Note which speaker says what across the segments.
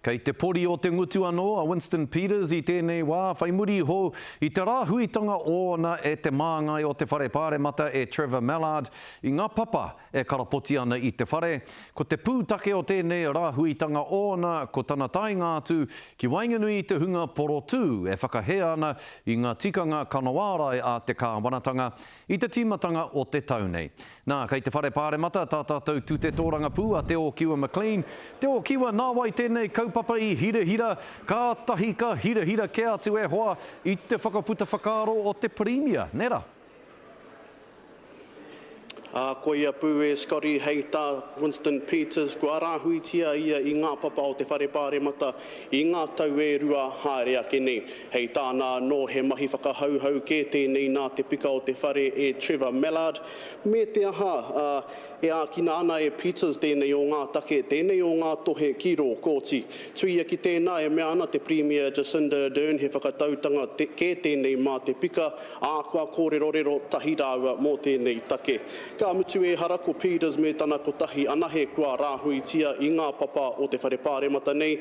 Speaker 1: Kei te pori o te ngutu anō a Winston Peters i tēnei wā, whai muri iho i te rāhuitanga ōna e te māngai o te Whare Pāremata e Trevor Mallard i ngā papa e karapoti ana i te whare, ko te pūtake o tēnei rāhuitanga ōna ko tana taenga atu ki waenganui i te hunga porotū e whakahē ana i ngā tikanga kanoārai a te kāwanatanga, I te tīmatanga o te tau nei. Nā, kei te Whare Pāremata tā tātou tute tōrangapū a Te Ōkiwa McLean. Te Ōkiwa, nā wai tēnei kaupapa i hirahira? Kātahi ka hirahira kē atu e hoa i te whakaputa whakaaro o te Pirimia, nē rā?
Speaker 2: Ā, koia pū e Scotty hei tā Winston Peters, kua rāhuitia ia i ngā papa o te Whare Pāremata i ngā tau e rua haere ake nei. Hei tāna anō, he mahi whakahauhau kē tēnei nā te pika o te whare e Trevor Mallard, me te aha, ā, e ākina ana e Peters tēnei o ngā take, tēnei o ngā tohe ki rō kōti. Tuia ki tēnā, e mea ana te Pirimia Jacinda Ardern he whakatautanga kē tēnei mā te pika, ā, kua kōrerorero tahi rāua mō tēnei take. Ka mutu ehara ko Peters me tana kotahi anahe kua rāhuitia i ngā papa o te Whare Pāremata nei,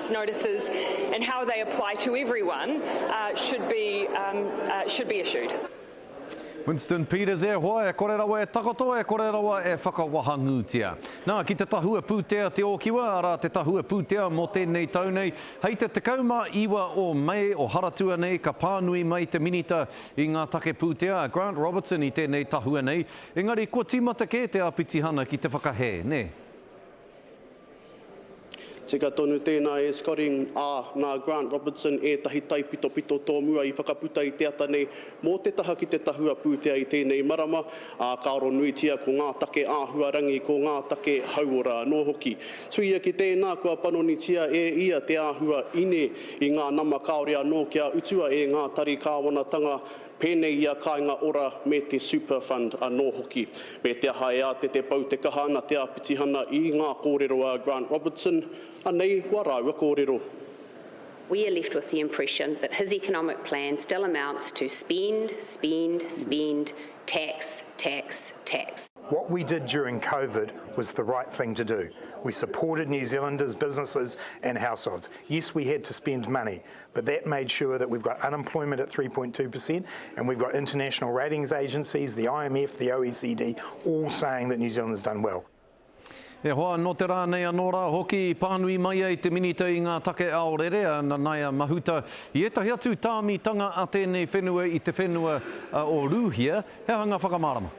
Speaker 3: notices and how they apply to everyone should be should be issued.
Speaker 1: Winston Peters E hoa, e kore rawa e takoto, e kore rawa e whakawahangūtia. Nā, ki te Tahua Pūtea Te Ōkiwa, arā, te Tahua Pūtea mō tēnei tau nei, hei te 19 o Mei o Haratua nei ka pānui mai te Minita i ngā Take Pūtea, a Grant Robertson i tēnei tahua nei, engari kua tīmata kē te āpitihana ki te whakahē, nē?
Speaker 2: Tika tonu tēnā e Scotty, ā, nā Grant Robertson ētahi taipitopito tōmua i whakaputa i te ata nei mō te taha ki te tahua pūtea i tēnei marama, ā, ka aro nuitia ko ngā take āhuarangi, ko ngā take hauora anō hoki. Tuia ki tēnā, kua panonitia e ia te āhua ine i ngā nama kāore anō kia utua e ngā tari kāwanatanga pēnei i a Kāinga Ora me te Super Fund anō hoki, me te aha e āte te pau te kaha ana te āpitihana i ngā kōrero a Grant Robertson, anei wā rāua kōrero.
Speaker 4: We are left with the impression that his economic plan still amounts to spend, spend, spend, tax, tax, tax. What we did
Speaker 5: during Covid was the right thing to do. We supported New Zealanders, businesses and households. Yes, we had to spend money, but that made sure that we've got unemployment at 3.2 per cent and we've got international ratings agencies, the IMF, the OECD, all saying that New Zealand has done well. E hoa,
Speaker 1: nō te rā nei anō rā hoki i pānui mai ai te Minita i ngā take aorere a Nanaia Mahuta i ētahi atu tāmitanga a tēnei whenua i te whenua o Rūhia, he aha ngā whakamārama?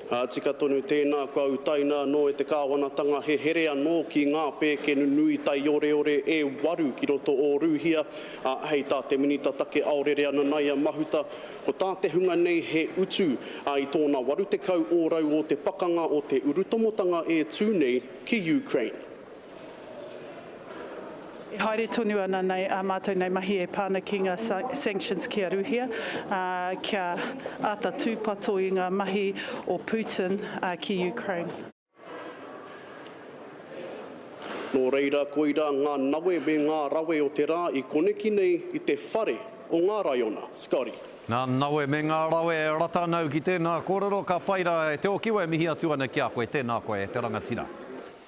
Speaker 2: Ā, tika tonu tēnā kua utaina anō e te kāwanatanga he here anō ki ngā pēkenu nui taioreore e waru ki roto o Rūhia, ā, hei tā te Minita Take Aorere Ananaia Mahuta, ko tā te hunga nei he utu, ā, i tōna 80 ōrau o te pakanga o te urutomotanga e tū nei ki Ukraine.
Speaker 6: E haere tonu ana nei ā mātou nei mahi e pā ana ki ngā sanctions ki a Rūhia, ā, kia āta tūpato i ngā mahi o Putin ki Ukraine.
Speaker 2: Nō reira, koirā ngā nawe me ngā rawe o te rā i koneki nei i te whare o ngā raiona. Scotty. Ngā nawe me
Speaker 1: ngā rawe e rata ana au ki tēnā kōrero, ka pai rā e te okiwa e mihi atu ana ki a koe, tēnā koe e te rangatira.